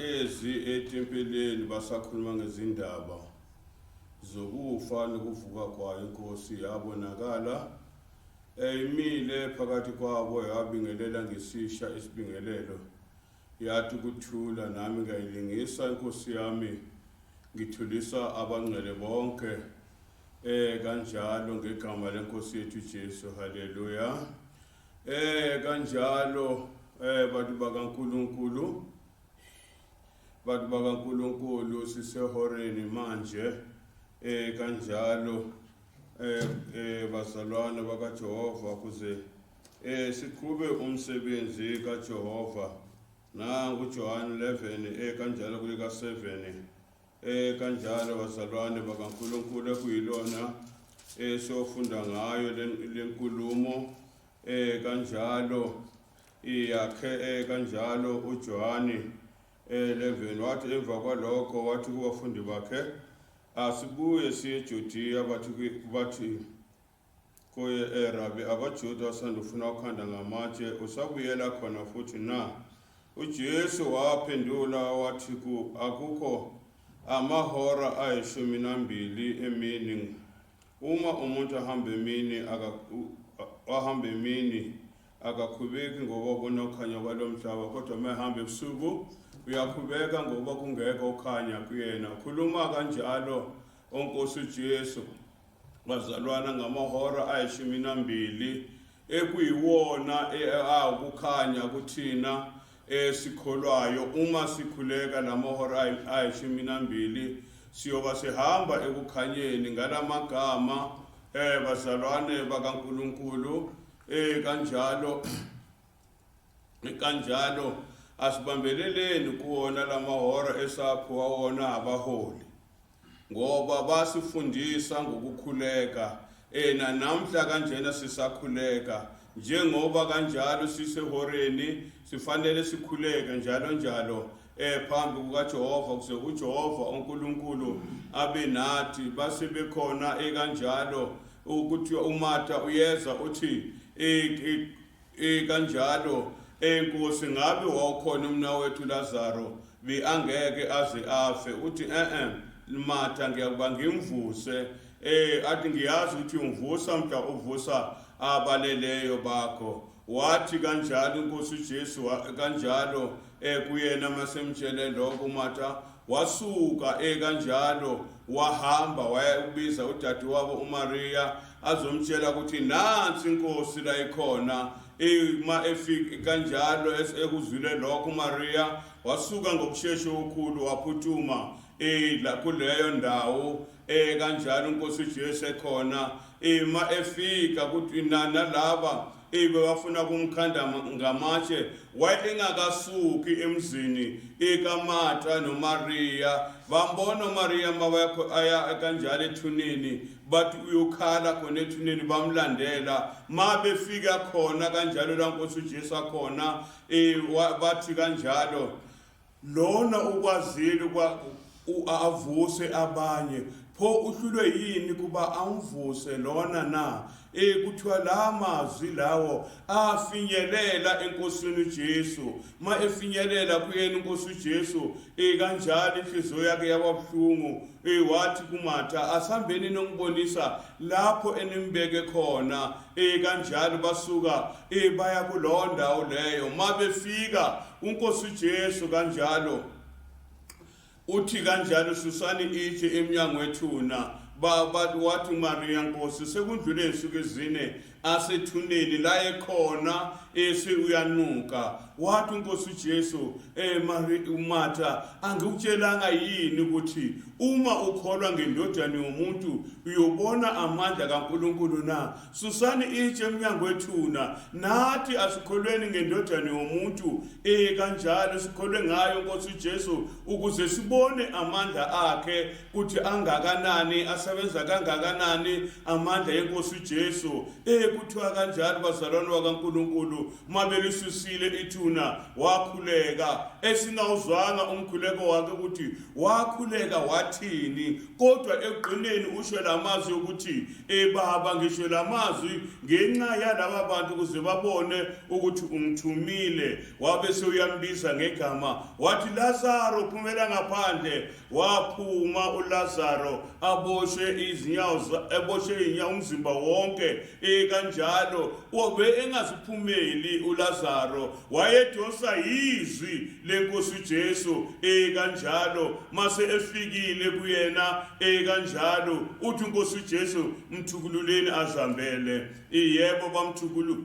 Ezi etempeleni basakhuluma ngezindaba zokufa nokuvuka kwayo inkosi yabonakala eyimile phakathi kwabo yabingelela ngesisha isibingelelo yathi kuthula nami ngayilingisa inkosi yami ngithulisa abangcwele bonke eh kanjalo ngegama lenkosi yethu Jesu haleluya Eh kanjalo eh bantu bakaNkuluNkulu bantu bakaNkuluNkulu sisehoreni manje eh kanjalo eh eh bazalwane bakaJehova kuze eh siqhube umsebenzi kaJehova nangu John 11 eh kanjalo kulika 7 Eh kanjalo bazalwane bakaNkuluNkulu ekuyilona esofunda eh, ngayo lenkulumo eh kanjalo iyakhe eh, kanjalo uJohane 11 eh, wathi emva kwalokho wathi kubafundi bakhe asibuye siye eJudiya bathi bathi Kuye, E Rabi, abaJuda osanda ufuna ukhanda ngamatshe, usabuyela khona futhi na? UJesu waphendula wathi ku, Akukho amahora ayishumi nambili emini. Uma umuntu ahamba emini, wahamba emini, akakhubeki ngoba kunokhanya kwalo mhlaba, kodwa uma ehamba ebusuku uyakhubeka ngoba kungekho ukhanya kuyena. Khuluma kanjalo, oNkosi uJesu. Bazalwana ngamahora ayishumi nambili ekuyiwona awukukhanya kuthina esikholwayo uma sikhuleka lamahora ayishumi nambili siyoba sihamba ekukhanyeni ngalamagama eh bazalwane bakaNkuluNkulu eh kanjalo kanjalo asibambeleleni kuwona lamahora esakho wawona abaholi ngoba basifundisa ngokukhuleka ena namhla kanjena sisakhuleka njengoba kanjalo sisehoreni sifanele sikhuleke njalo njalo eh phambi kukaJehova kuze uJehova uNkulunkulu abe nathi base bekhona ekanjalo ukuthi uMatha uyeza uthi Eh kanjalo eh Nkosi ngabe wawukhona umnawethu Lazaro beangeke aze afe uthi eh eh Matha ngiyakuba ngimvuse eh athi ngiyazi ukuthi ungivusa mhla uvusa abaleleyo bakho wathi kanjalo inkosi uJesu kanjalo eh kuyena masemtshele lokho uMatha Wasuka e kanjalo wahamba waya ukubiza udadewabo uMaria azomtshela ukuthi nansi inkosi la ikhona uma efika kanjalo ekuzwile lokho uMaria wasuka ngokushesha okukhulu waphuthuma eh la kuleyo ndawo eh kanjalo inkosi uJesu ekhona ima efika kuthi nana laba Eyi bebafuna kumkhanda ngamatshe wayengakasuki emzini ikaMarta noMariya bambona uMariya mabakho aya kanjalo ethuneni bathi uyokhala khona ethuneni bamlandela ma befika khona kanjalo la nkosi uJesu akhona eh, bathi kanjalo Lona ukwazile kwa u- avuse abanye pho uhlulwe yini kuba amvuse lona na eh kuthiwa la mazwi lawo afinyelela enkosini uJesu ma efinyelela kuyena inkosi uJesu eh kanjalo inhliziyo yakhe yababuhlungu eh wathi kuMatha asambeni nongibonisa lapho enimbeke khona Eh kanjalo basuka eh baya kulowo ndawo leyo mabefika uNkosi uJesu kanjalo uthi kanjalo susani itshe emnyango wethuna baba wathi uMaria Nkosi sekundlule insuku ezine asethuneni la ekhona ese uyanuka wathi uNkosi uJesu Eh Mari uMatha angikutshelanga yini ukuthi uma ukholwa ngendodana yomuntu uyobona amandla kaNkuluNkulu na susani itshe emnyango wethuna nathi asikholweni ngendodana yomuntu eh kanjalo sikholwe ngayo Nkosi Jesu ukuze sibone amandla akhe ukuthi angakanani asebenza kangakanani amandla eNkosi Jesu eh kuthiwa kanjalo bazalwane wakaNkuluNkulu uma belisusile ithuna wakhuleka esingawuzwanga umkhuleko wakhe ukuthi wakhuleka wathini kodwa ekugqineni usho la mazwi ukuthi ebaba ngisho la mazwi ngenxa yalaba bantu ukuze babone ukuthi ungithumile wabe sewuyambiza ngegama wathi lazaro phumela ngaphandle waphuma uLazaro aboshwe izinyawo eboshwe inyawo umzimba wonke ekanjalo obe engaziphumeli uLazaro wayedonsa izwi lenkosi uJesu ekanjalo mase efikile kuyena ekanjalo uthi inkosi uJesu mthukululeni azambele yebo bamthukulu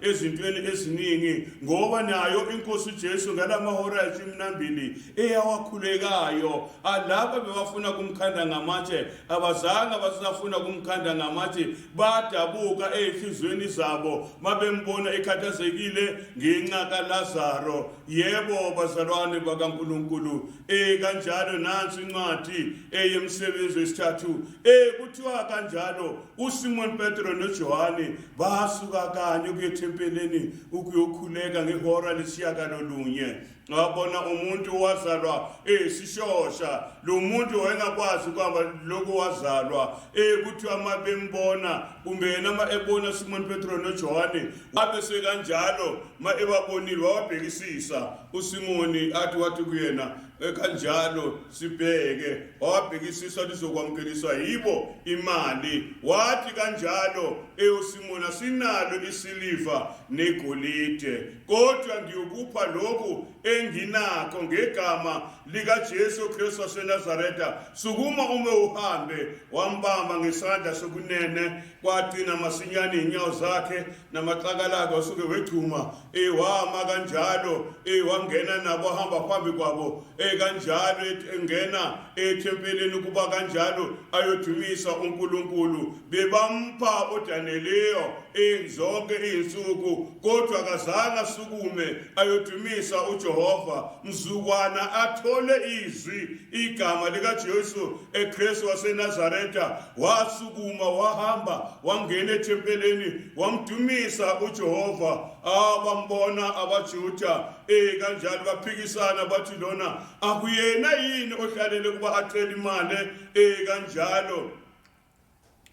ezintweni eziningi ngoba nayo inkosi uJesu ngalamahora ayishumi nambili eyawakhulekayo alaba bebafuna kumkhanda ngamatshe abazange basafuna kumkhanda ngamatshe badabuka ezihlizweni zabo mabembona ekhathazekile ngenxa kaLazaro yebo bazalwane bakaNkuluNkulu eh kanjalo nansi incwadi eyemsebenzi wesithathu eh kuthiwa kanjalo uSimon Petro noJohane basuka kanye ukuyethempeleni ukuyokhuleka ngehora lesishiyagalolunye ngabona umuntu owazalwa esishosha lo muntu wayengakwazi ukuhamba lokhu wazalwa ekuthiwa uma bembona kumbe yena uma ebona simoni petro nojohane wabe sekanjalo uma ebabonile wawabhekisisa usimoni athi wathi kuyena ekanjalo sibheke wabhekisisa lizokwamukeliswa yibo imali wathi kanjalo eyosimona sinalo isiliva negolide kodwa ngiyokupha lokhu enginakho ngegama likaJesu Kristu waseNazaretha sukuma ume uhambe wambamba ngesandla sokunene kwagcina masinyane inyawo zakhe namaxakalaka usuke wegcuma ewama kanjalo ewangena nabo hamba phambi kwabo ekanjalo engena ethempelini kuba kanjalo ayodumisa uNkulunkulu bebampha uDaniyeliyo inzonke izinsuku kodwa kazange asukume ayodumisa uJehova mzukwana athole izwi igama likaJesu eKristu waseNazaretha wasukuma wahamba wangena ethempeleni wamdumisa uJehova abambona abaJuda eh kanjalo baphikisana bathi lona akuyena yini ohlalele kuba acela imali eh kanjalo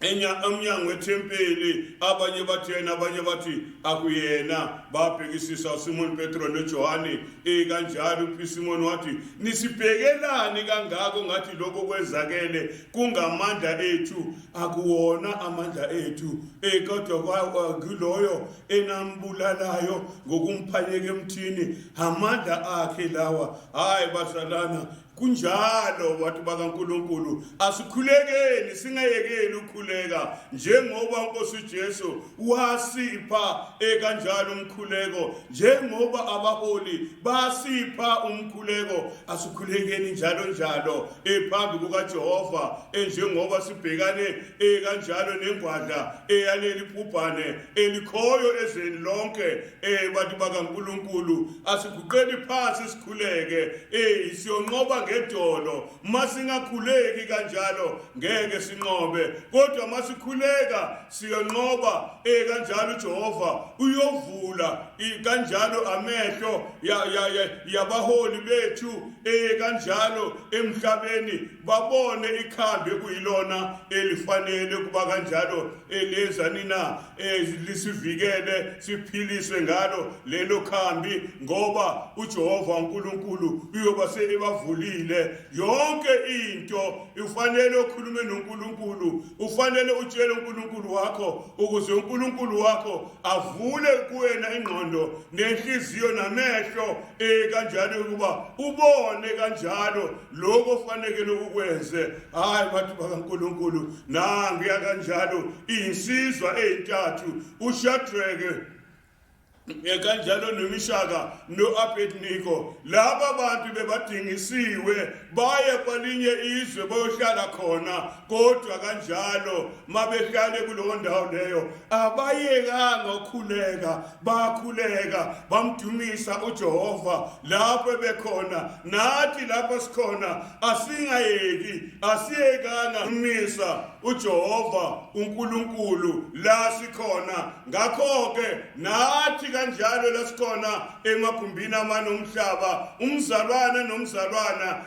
emnyango wethempeli abanye bathi yena abanye bathi akuyena babhekisisa usimoni petro nojohane ikanjalo upisimoni wathi nisibhekelani kangako ngathi lokho kwenzakele kungamandla ethu akuwona amandla ethu e kodwa ngiloyo enambulalayo ngokumphanyeka emthini amandla akhe lawa hayi bazalana Kunjalo bantu bakaNkulunkulu, asikhulekeni singayekeli ukukhuleka njengoba uNkosi uJesu wasipha ekanjalo umkhuleko, njengoba abaholi basipha umkhuleko, asikhulekeni njalo njalo ephambi kukaJehova enjengoba sibhekane ekanjalo nengwadla eyaleli bhubhane elikhoyo ezweni lonke eh bantu bakaNkulunkulu asiguqeni phansi sikhuleke eh siyonqoba ngedolo masingakhuleki kanjalo ngeke sinqobe kodwa masikhuleka siyonqoba eh kanjalo uJehova uyovula kanjalo amehlo yabaholi bethu eh kanjalo emhlabeni babone ikhambi kuyilona elifanele kuba kanjalo elezanina eh, lisivikele siphiliswe ngalo lelo khambi ngoba uJehova uNkulunkulu uyoba sebavulile yonke into ufanele ukhulume noNkulunkulu ufanele utshele uNkulunkulu wakho ukuze uNkulunkulu wakho avule kuwena ingqondo nenhliziyo namehlo eh kanjalo ukuba ubone kanjalo lokho ofanekele ukwenze hayi bantu bakaNkuluNkulu nangu yakanjalo insizwa ezintathu uShadrake kanjalo nomishaka no-abedniko laba bantu bebadingisiwe baye kwalinye izwe bayohlala khona kodwa kanjalo mabehlale kulowo ndawo leyo abayekanga ukhuleka bakhuleka bamdumisa uJehova lapho bekhona nathi lapho sikhona asingayeki asiyekanga kumisa uJehova uNkulunkulu la sikhona ngakho ke nathi kanjalo lesikhona emagumbini amanomhlaba umzalwana nomzalwana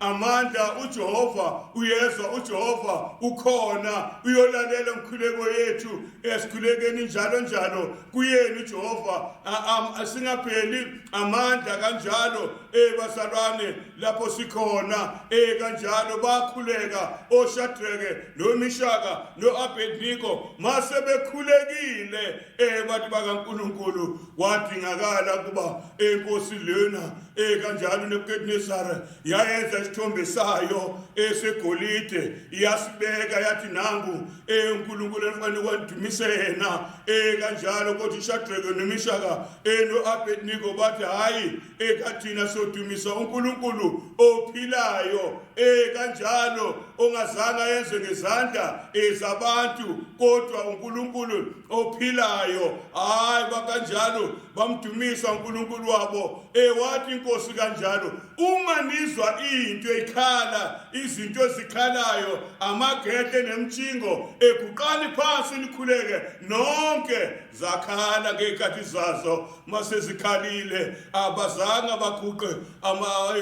amandla uJehova uyezwa uJehova ukhona uyolalela umkhuleko yethu esikhulekeni njalo njalo kuyena uJehova singapheli amandla kanjalo eh basalwane lapho sikhona eh kanjalo bakhuleka oShadrake noMishaka noAbednego mase bekhulekile eh bantu bakaNkuluNkulu wadingakala kuba enkosi lena eh kanjalo neBukadnezar yayenza isithombe sayo esegolide yasibeka yathi nangu eh uNkuluNkulu efanele wadumise yena eh kanjalo kodwa iShadrake noMishaka eno eh, Abednego bathi hayi ekathina sodumisa uNkulunkulu ophilayo ekanjalo ongazange yenze ngezandla ezabantu kodwa uNkulunkulu ophilayo hayi bakanjalo bamdumisa uNkulunkulu wabo ewathi inkosi kanjalo uma nizwa into ikhala izinto ezikhalayo amagedle nemjingo eguqani phansi nikhuleke nonke zakhala ngey'khathi zazo masezikhalile abazange baguqe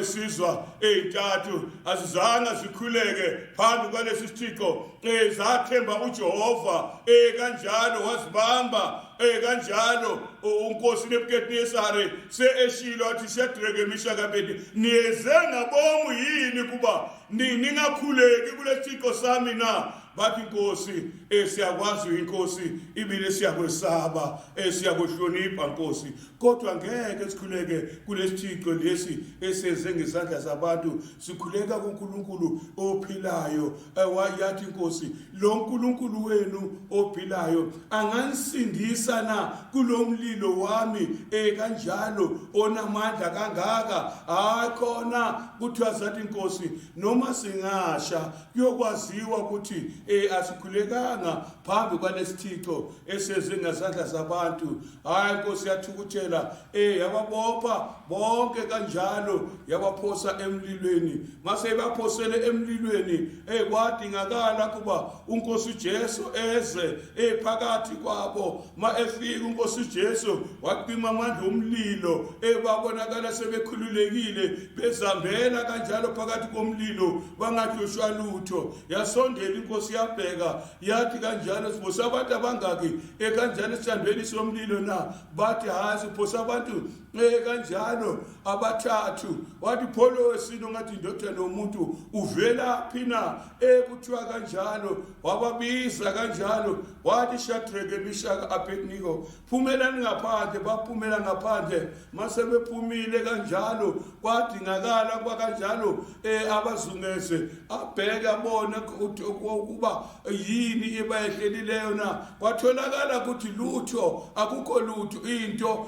esizwa ey'ntathu azizange zikhuleke phambi kwalesi sithixo um zathemba ujehova um kanjalo wazibamba um kanjalo unkosi nebukadnesare se-eshilo athi shadreke mishakabedi niyeze ngabomu yini kuba ningakhuleki kulesi thixo sami na bathi nkosi eh, siyakwazi uyinkosi ibile siyakwesaba eh, siyakuhlonipha nkosi kodwa ngeke sikhuleke kulesithixo lesi esenze ngezandla zabantu sikhuleka kuNkulunkulu ophilayo eh, wayathi inkosi lo nkulunkulu wenu ophilayo anganisindisa na kulomlilo wami ekanjalo onamandla kangaka hayi khona kuthiwa zathi inkosi noma singasha kuyokwaziwa ukuthi eh asikhulekanga phambi kwalesithixo eseze ngezandla zabantu hayi inkosi yathukuthela eh yababopha bonke kanjalo yabaphosa emlilweni mase ibaphosele emlilweni eh kwadingakala kuba unkosi uJesu eze eh phakathi kwabo uma efika unkosi ujesu wacima amandla omlilo ebabonakala sebekhululekile bezambela kanjalo phakathi komlilo bangahlushwa lutho yasondela inkosi yabheka yathi kanjalo siphosa abantu abangaki ekanjalo esithandweni somlilo na bathi hhayi siphosa abantu ekanjalo abathathu wathi pholo wesini ongathi indodana yomuntu uvelaphi na ekuthiwa kanjalo wababiza kanjalo wathi shadrake mishaka abednego phumelani ngaphandle baphumela ngaphandle mase bephumile kanjalo kwadingakala kuba kanjalo um eh, abazungeze abheke abone ukuba yini ibayehlelileyo na kwatholakala ukuthi lutho akukho lutho into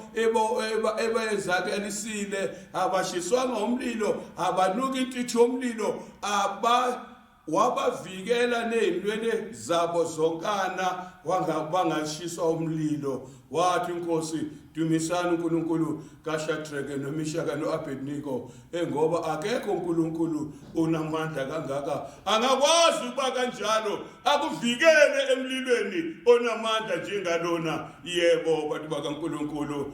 ebayenzakalisile abashiswanga umlilo abanuki intuthu yomlilo aba wabavikela nezinwele zabo zonkana bangashiswa umlilo wathi inkosi dumisani uNkulunkulu kaShadrake noMishaka noAbednego engoba eh, akekho uNkulunkulu onamandla kangaka angakwazi ukuba kanjalo akuvikele emlilweni onamandla njengalona yebo bantu bakaNkulunkulu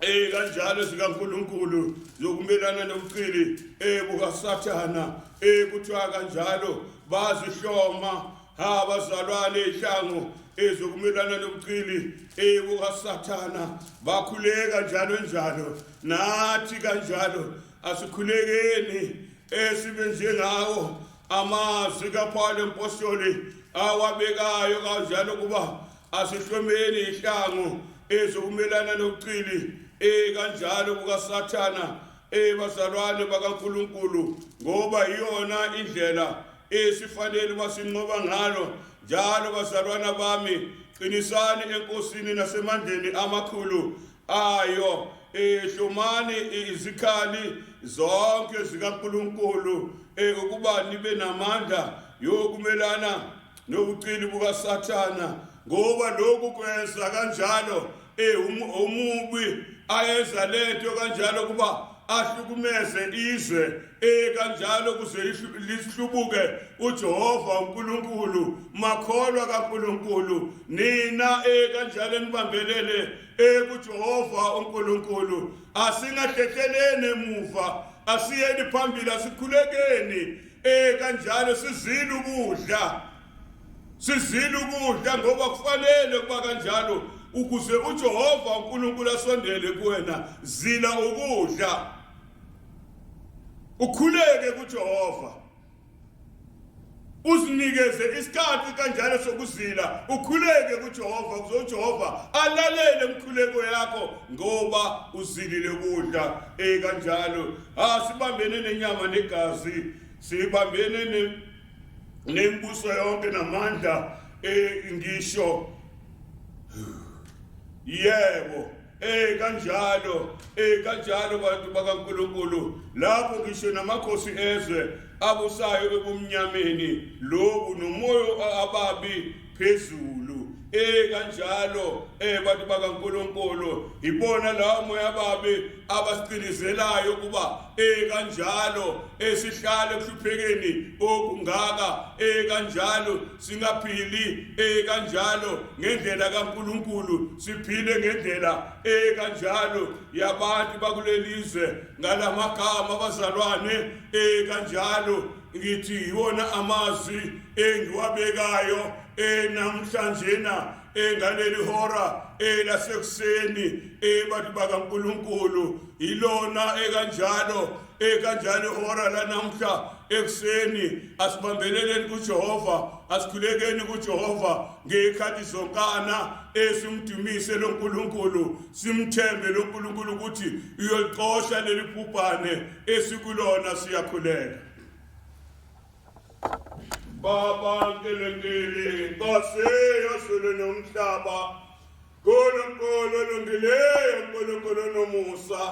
Eh kanjalo sikaNkuluNkulu zokumelana nobuqili eh bukaSathana eh kuthiwa kanjalo bazihloma ha bazalwane ihlango ezokumelana nobuqili eh bukaSathana bakhuleka njalo njalo nathi kanjalo asikhulekeni esibe njengawo amazwi kaPawulu empostoli awabekayo kanjalo kuba Asihlomeni ihlango ezokumelana nokucili ekanjalo kukaSathana ebazalwane bakaNkulunkulu ngoba iyona indlela esifanele uba sinqoba ngalo njalo bazalwana bami qinisani enkosini nasemandleni amakhulu ayo ehlomani izikhali zonke zikaNkulunkulu eh, ukuba nibe namandla yokumelana nobuqili bukaSathana ngoba lokhu kwenza kanjalo eh um, umubi ayenza lento kanjalo kuba ahlukumeze izwe eh kanjalo kuze lihlubuke uJehova uNkulunkulu makholwa kaNkulunkulu nina eh kanjalo nibambelele eh kuJehova uNkulunkulu asingahlekhelene emuva asiyeni phambili asikhulekeni Eh kanjalo sizile ukudla. Sizile ukudla ngoba kufanele kuba kanjalo ukuze uJehova uNkulunkulu asondele kuwena zila ukudla. Ukhuleke kuJehova. Usinikeze isikhathi kanjalo sokuzila, ukhuleke kuJehova ukuze uJehova alalele umkhuleko yakho ngoba uzilile ukudla eh kanjalo Asibambene nenyama negazi, sibambene ne nembuso yonke namandla eh ngisho yebo eh kanjalo eh kanjalo bantu bakaNkuluNkulu lapho ngisho namakhosi ezwe abusayo ebumnyameni lobu nomoya ababi phezulu eh kanjalo eh bantu bakaNkuluNkulu ibona lawo moya babe abasiqinizelayo kuba eh kanjalo esihlale kuhluphekeni okungaka eh kanjalo singaphili eh kanjalo ngendlela kaNkuluNkulu siphile ngendlela eh kanjalo yabantu bakulelizwe ngalamagama abazalwane eh kanjalo ngithi yiwona amazwi engiwabekayo enamhlanjena engaleli hora elasekuseni ebantu bakaNkuluNkulu yilona ekanjalo ekanjalo ihora lanamhla ekuseni asibambeleleni kuJehova asikhulekeni kuJehova ngekhathi zonkana esimdumise loNkulunkulu simthembe loNkulunkulu ukuthi uyolixosha leli bhubhane esikulona siyakhuleka baba nkelengeli nkosi yezulu nomhlaba nkulunkulu olungileyo nkulunkulu nomusa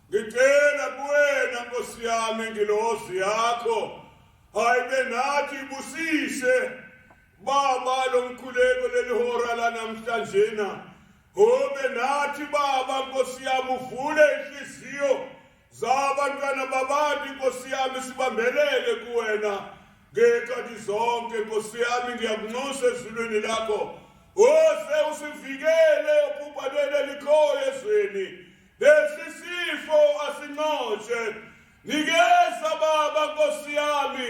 ngicela kuwena nkosi yami ngilozi yakho hayibe nathi busise baba lomkhuleko lelihora lanamhlanje na Ube nathi baba nkosi yami uvule inhliziyo zabantwana babantu nkosi yami sibambelele kuwena ngekhathi zonke nkosi yami ngiyakunxusa ezulwini lakho ose usivikele obhubhaneni elikhoyo ezweni lesi sifo asinxoshe nikeza baba nkosi yami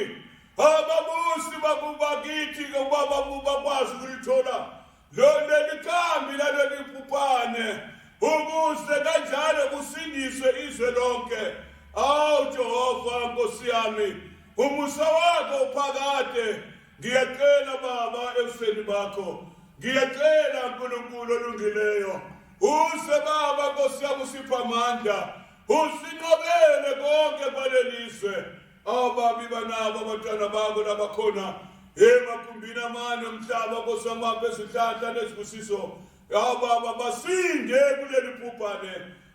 ababusi bakubakithi ke ubaba bakwazi ukulithola loleli khambi laleli bhubhane ukuze kanjalo kusindiswe izwe lonke awu jehova nkosi yami umusa wakho uphakade ngiyacela baba ebusweni bakho ngiyacela nkulunkulu olungileyo use baba nkosi yami usipha amandla usinqobele konke kwaleli zwe ababi banabo abantwana babo labakhona emagumbini amane omhlaba kosamapha ezihlahla nezibusiso ababa basinde kuleli bhubhane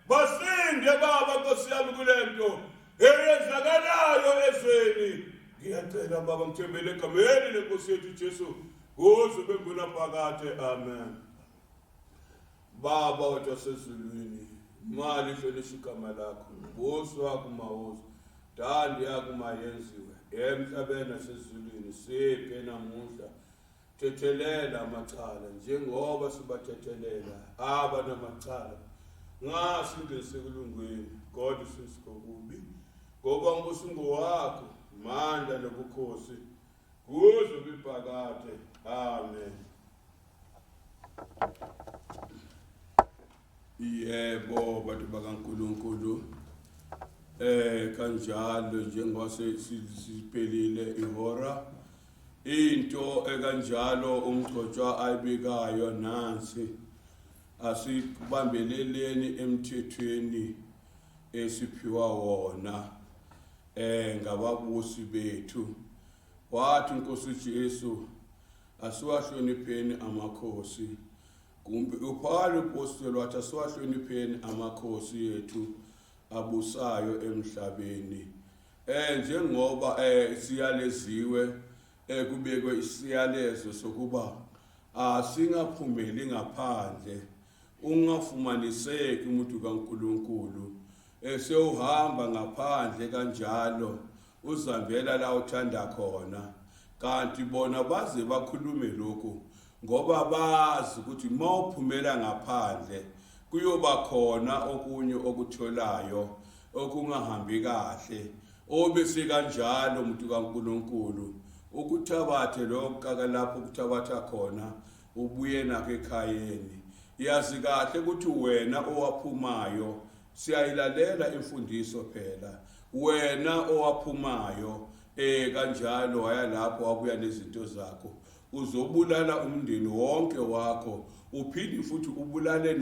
basinde baba nkosi yami kule nto eyenzakalayo ezweni ngiyacela baba ngithembele egameni lenkosi yethu ujesu kuze ube ngunaphakade amen Baba wethu wasezulwini, imali ihlonishwa igama lakho, umbuso wakho mawuze, ntando yakho mayenziwe emhlabeni nasezulwini. Siphe namuhla, thethelela amacala njengoba sibathethelela aba namacala, ngasingenise kulungwini kodwa usindise kokubi, ngoba umbuso ungowakho, mandla nobukhosi kuze kuphakade. Amen. yebo bantu bakaNkulunkulu eh kanjalo njengoba siphelile ihora into ekanjalo umgcotshwa ayibikayo nansi asibambeleleni emthethweni esiphiwa wona eh ngababusi bethu wathi inkosi uJesu asiwahlonipheni amakhosi kumbe uphawula upostoli wathi asiwahlonipheni amakhosi ethu abusayo emhlabeni eh njengoba eh siyaleziwe eh kubekwe isiyalezo sokuba asingaphumeli ngaphandle Ungafumaniseki umuntu kaNkulunkulu esewuhamba ngaphandle kanjalo uzambela la uthanda khona kanti bona baze bakhulume lokhu ngoba bazi ukuthi uma uphumela ngaphandle kuyoba khona okunye okutholayo okungahambi kahle obese kanjalo umuntu kaNkuluNkulu ukuthabathe lokho kakalapho ukuthabatha khona Ubuye nakho ekhayeni. Yazi kahle ukuthi wena owaphumayo siyayilalela imfundiso phela. Wena owaphumayo eh kanjalo waya lapho wabuya nezinto zakho. Uzobulala umndeni wonke wakho uphinde futhi ubulale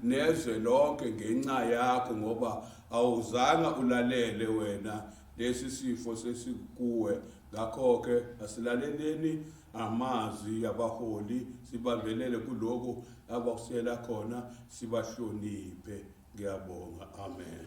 nezwe lonke ngenxa yakho ngoba awuzanga ulalele wena lesi sifo sesikuwe Ngakho-ke asilaleleni amazwi abaholi sibambelele kuloko abakusela khona sibahloniphe ngiyabonga amen